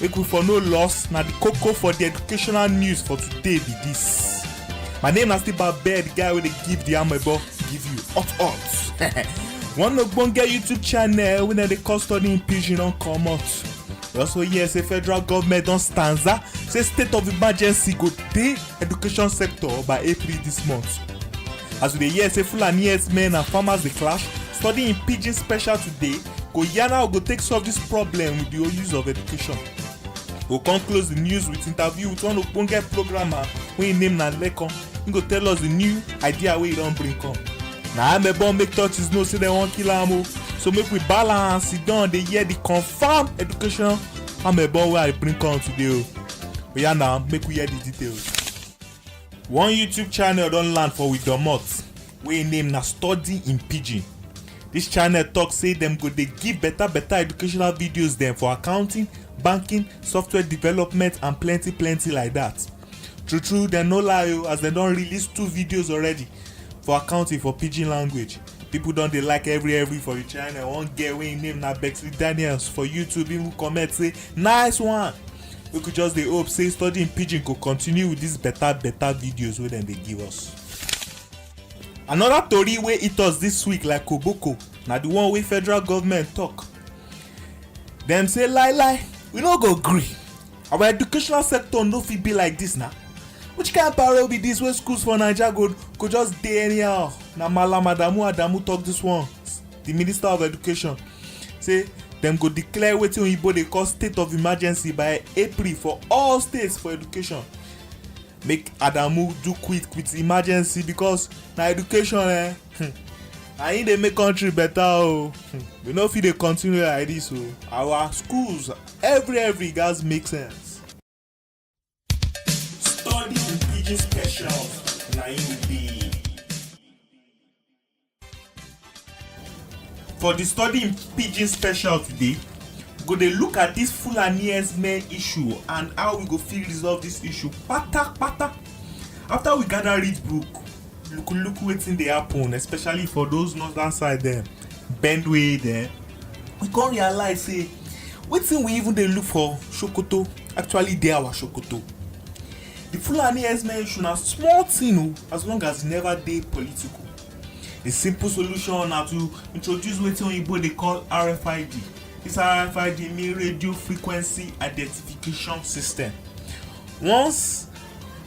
make we for no loss na the koko for the educational news for today be this my name na still babed the guy wey dey give the amebo give you hot hot one ogbonge youtube channel wey dem dey call studying pidgin don comot we also hear say federal government don stanza say state of emergency go dey education sector by april this month as we dey hear say fulani herdsmen and farmers dey clash studying pidgin special today go yarn how we go take solve this problem with the use of education go come close the news with interview with one ogbonge programmer wey im name na lekan im go tell us the new idea wey e don bring come na amebo make churches know say dem wan kill am o so make we balance sit down dey hear the confam education amebo wey i bring come today o oya na make we hear the details. one youtube channel don land for we domot wey im name na study in pidgin Dis channel talk say dem go dey give better better educational videos dem for accounting, banking, software development and plenty plenty like that. True true dem no lie o as dem don release two videos already for accounting for pidgin language. People don dey like every every for the channel. One girl wey im name na Bexley Daniels for YouTube even comment say nice one. We could just dey hope say studying pidgin go continue with these better better videos wey dem dey give us. Another tori wey hit us this week like koboko na the one wey federal government talk. Dem say lie lie, we no go gree. Our educational sector no fit be like this na. Which kind parole be this wey schools for Naija go go just dey anyhow? Na Malam Adamu Adamu talk this one, the minister of education say dem go declare wetin oyibo dey call state of emergency by April for all states for education. make adamu do quick with emergency because na education eh hmm, na im dey make country better o oh. hmm, we no fit dey continue like this o oh. our schools every every gats make sense. study pidgin specials na im be. For the study in pidgin special today, we go dey look at this Fulani herdsmen issue and how we go fit resolve this issue kpata kpata. After we gather read book, look look wetin dey happen especially for those northern side dem, Benue dem, we come realize say wetin we even dey look for Sokoto actually dey our Sokoto. The Fulani herdsmen issue na small thing o as long as e never dey political. The simple solution na to introduce wetin oyinbo dey call RFID. This RFID mean radio frequency identification system. Once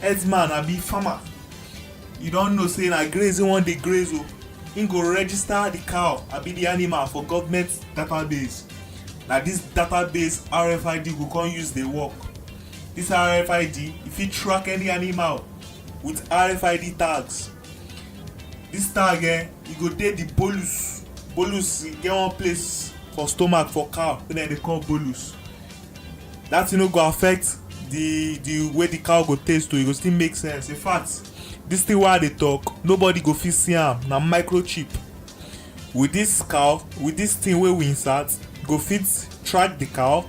herdsman abi farmer you don know say na graze e wan dey graze o, im go register the cow abi the animal for government database. Na this database RFID go come use dey work. This RFID, you fit track any animal with RFID tags. This tag eh, e go dey the bolus. Bolus e get one place for stomach for cow wey dem dey call bolus. That thing no go affect the the way the cow go taste o, e go still make sense. In fact, this thing wey I dey talk, nobody go fit see am, na microchip. with this cow with this thing wey we insert you go fit track the cow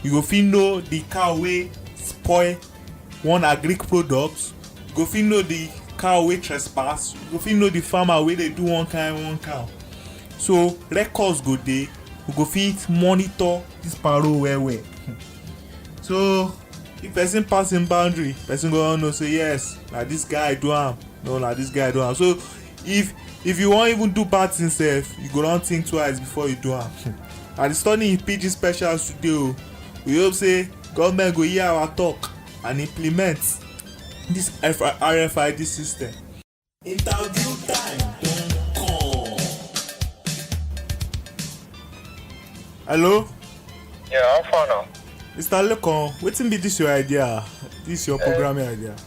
you go fit know the cow wey spoil one agric product you go fit know the cow wey trespass you go fit know the farmer wey dey do one kind one cow so records go dey we go fit monitor this paro well well so if person pass him boundary person go know say yes na this guy do am no na this guy do am so if if you wan even do bad thing sef you go don think twice before you do am i dey study in pidgin special today o oh. we hope say government go hear our talk and implement this rfid system. interview time don come. hello. yeah how far now. mr lekan wetin be this your idea this your eh. programming idea.